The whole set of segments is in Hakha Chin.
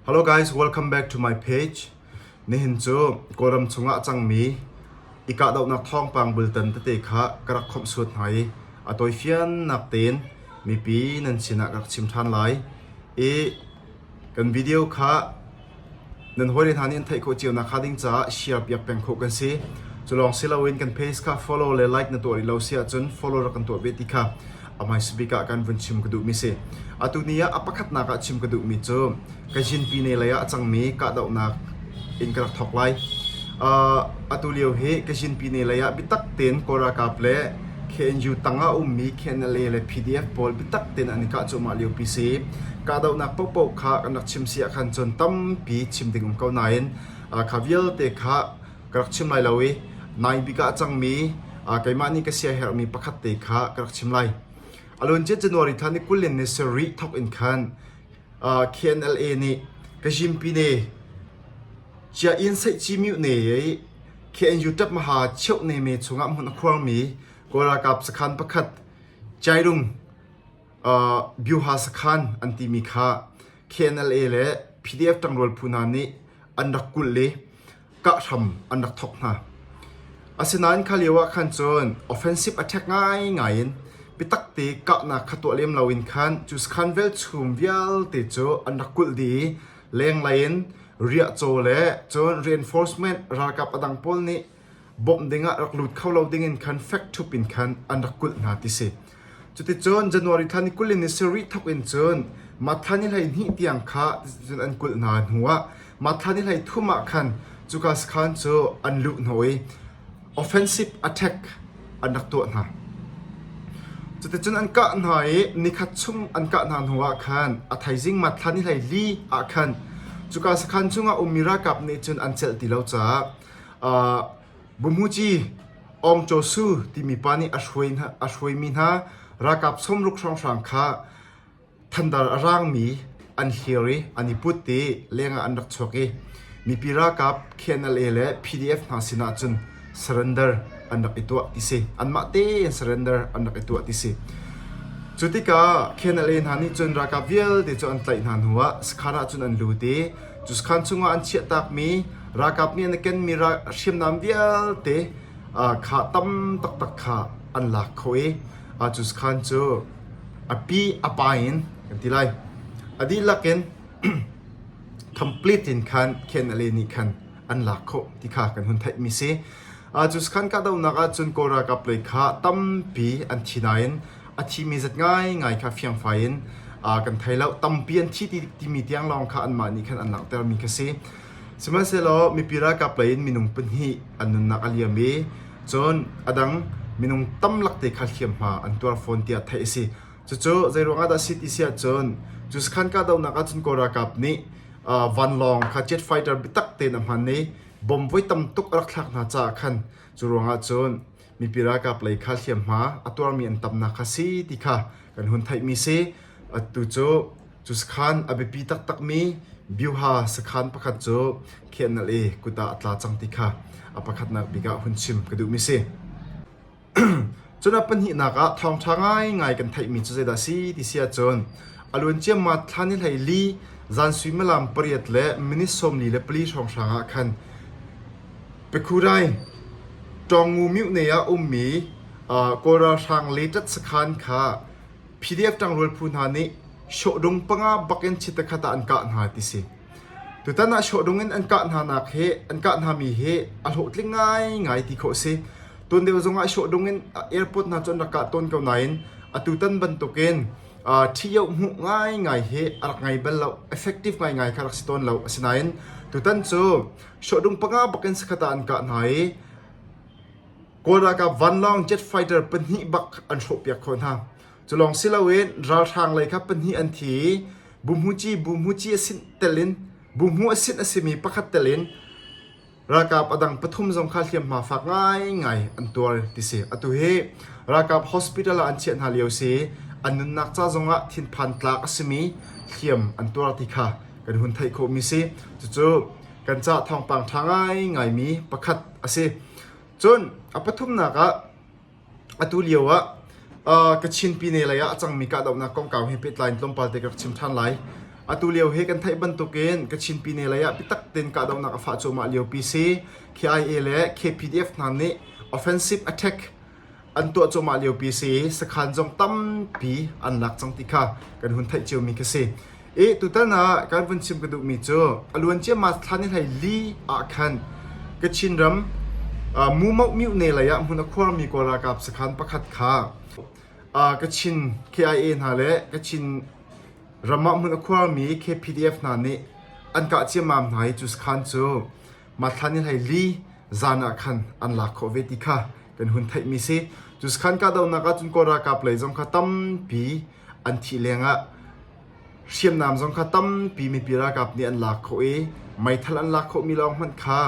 Hello guys, welcome back to my page. Nihin cu Kawlram chungah a cangmi i kahdohnak thawngpang bultan tete kha ka rak khawmh suat hna i a tawifiannak tein mipi nan sinah ka rak chim ṭhan lai. I kan video kha nan hawile hna nih an theih khawh cio nakhnga ding caah share piak peng khawh kan si. Cu lawng si loin kan page kha follow le like na tuah rih lo si ahcun follow rak kan tuah ve ti kha A hmaisabik ah kan vun chim ka duhmi si. Atu ni ah a pakhatnak ah chim ka duhmi cu ka zinpi ne lei ah a cangmi kahdohnak in ka rak thawk lai. Uh, atu lio hi ka zinpi ne lei ah bitak tein Kawl ralkap le KNU tangah ummi KNLA le PDF pawl bitak tein an i kah cuahmah lio pi si. Kahdohnak pohpoh kha kan rak chim si ah khan cun tampi chim ding um ko nain uh, kha vialte kha ka rak chim lai lo i nai bik ah a cangmi keimah nih ka siaherhmi pakhat te kha ka rak chim lai. A luancia January thla ni kul in ni sarih thawk in khan KNLA nih Kazhimpine Chia Yin Saih Ci Myu Ne i KNU ṭap maha cheuh ne me chungah hmun a khuarmi Kawl ralkap sakhan pakhat Jairung Byuha sakhan an timi kha KNLA le PDF ṭangrual phu hna nih an rak kulh i kah hram an rak thawk hna. Asinain kha lio ah khan cun offensive attack ngaingai in biatak te kahnak kha tuah lem lo in khan cu sakhan velchum vialte cu an rak kulh dih i lenglei in riahcaw le cun reinforcement ralkap a dang pawl nih bawmh ding ah rak lut kho lo ding in khan fek thup in khan an rak kulh hna ti si. Cuticun January thla ni kul in ni sarih thawk in cun Mattha ni hleihnih tiang kha cun an kulh hna hnuah Mattha ni hleithum ah khan cuka sakhan cu an luh hna i offensive attack an rak tuah hna. Cuticun an kah hna i nikhat chung an kah hna hnuah khan a thaizing Mattha ni hleili ah khan cuka sakhan chungah ummi ralkap nih cun an celh ti lo caah uh, Bumuci, Awngcawsu timi pa nih a hruaimi hna ralkap sawmruk hrawnghrang kha thandar a raangmi an hlir i an i put i leng ah an rak chuak i mipi ralkap KNLA le PDF hna sinah cun surrender an rak i tuah ti si. Anmah te in surrender an rak i tuah ti si. Cu tikah KNLA hna nih cun ralkap vialte cu an tlaih hna hnu ah Sakhan ah cun an lut i Cuskan chungah an chiahtakmi ralkap nih an kenmi hriamnam vialte kha tam taktak kha an lak kho i Cuskan cu a pi a pa in kan ti lai. A dihlak in complete in khan khen ale nih khan an lak kho ti kha kan hun theih mi si. Cu kan kahdohnak ahcun Kawl ralkap lei kha tampi an thi nain a thimi zat ngaingai kha fiangfai in kan thei lo tampi an thi timi tiang lawng kha anmah nih khan an langhter mi kha si sihmanhsehlaw mipi ralkap lei in minung pahnih an nunnak a liam i cun adang minung tamlak te kha hliamhma an tuar fawn tiah theih a si cucu zeiruangah dah si ti si ahcun cu khan kahdohnak ahcun kawl ralkap nih vanlawng kha jet fighter bitak te na hman i bom voi tam tuk a rak thlak hna caah khan cu ruangah cun mipi ralkap lei kha hliamhma a tuarmi an tamnak kha si ti kha kan hun theihmi si. Atu cu cu sakhan a biapi taktakmi Byuha sakhan pakhat cu khianal i kut ah a tla cang ti kha a pakhatnak bik ah hun chim ka duhmi si. Cun a pahnihnak ah thawngṭha ngaingai kan theihmi cu zeidah si ti si ahcun a luancia mat thlan i hlei li zan suimilam pariat le minit sawmli le pali hrawng hrang ah khan Pekhurai ṭawngngu miohnei ah a ummi Kawl ralhrang leṭat sakhan kha PDF ṭangrual phu hna nih shohdung panga bakin chitta khat ah an kah hna ti si. Tutan ah shohdung in an kah hnanak hi an kah hnami hi a hlawhtling ngaingai ti khawh a si. Tun deuh zongah shohdung in airport hna cu an rak kah tawn ko nain atutan bantukin ṭhio hmuh ngaingai hi a rak ngei bal lo, effective ngaingai kha rak si tawn lo. Asinain tutan cu Shuahdung panga bakin sakhata an kah hna i Kawl ralkap vanlawng jet fighter pahnih bak an hrawhpiak kho hna. Cu lawng si loin ralhrang lei kha pahnih an thi i Bumhuci Bumhuci asin telin Bumhu asin asimi pakhat telin ralkap adang pathum zong kha hliamhma fak ngaingai an tuar ti si. Atu hi ralkap hospital ah an chiah hna lio si an nunnak ca zongah thinphan tlak asimi hliam an tuar ti kha kan hun theih khawhmi si. Cucu kan cah thawngpang ṭha ngaingaimi pakhat a si. Cun a pathumnak ah atu lio ah uh, Kachin pine lei ah a cangmi kahdohnak kongkau he pehtlai in tlawmpal te ka rak chim ṭhan lai. Atu lio he kan theih bantukin Kachin pine lei ah biatak tein kahdohnak a fah cuahmah liopi si KIA le KPDF hna nih offensive attack an tuah cuahmah liopi si i sakhan zong tampi an lak cang ti kha kan hun theih ciami khi si. I tutan ah kan vun chim ka duhmi cu a luan ciammah thlan i hlei li ah khan Kachin ram uh, Mumo Mutne lei ah hmun a khuarmi kawl ralkap sakhan pakhat kha uh, Kachin KIA hna le Kachin ram ah hmun a khuarmi KPDF hna nih an kah ciammam hna i cu sakhan cu Mathlan in hei li zan ah khan an lak khawh ve ti kha kan hun theihmi si. Cu sakhan kahdohnak ahcun Kawl ralkap lei zong kha tampi an thih lengah hriamnam zong kha tampi mipi ralkap nih an lak khawh i meithal an lak khawhmi lawng hmanh kha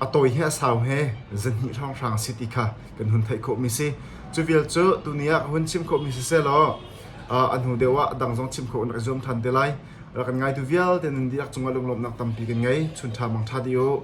a tawi he a sau he zahnih hrawnghrang si ti kha kan hun theih khawhmi si. Cu vial cu tuni ah ka hun chim khawhmi si selaw uh, a hnu deuh ah dang zong chim khawh rak i zuam than te lai. Rak kan ngaitu vialte nan dihlak cungah lunglawmhnak tampi kan ngei. Chun ṭha mang ṭha dih u!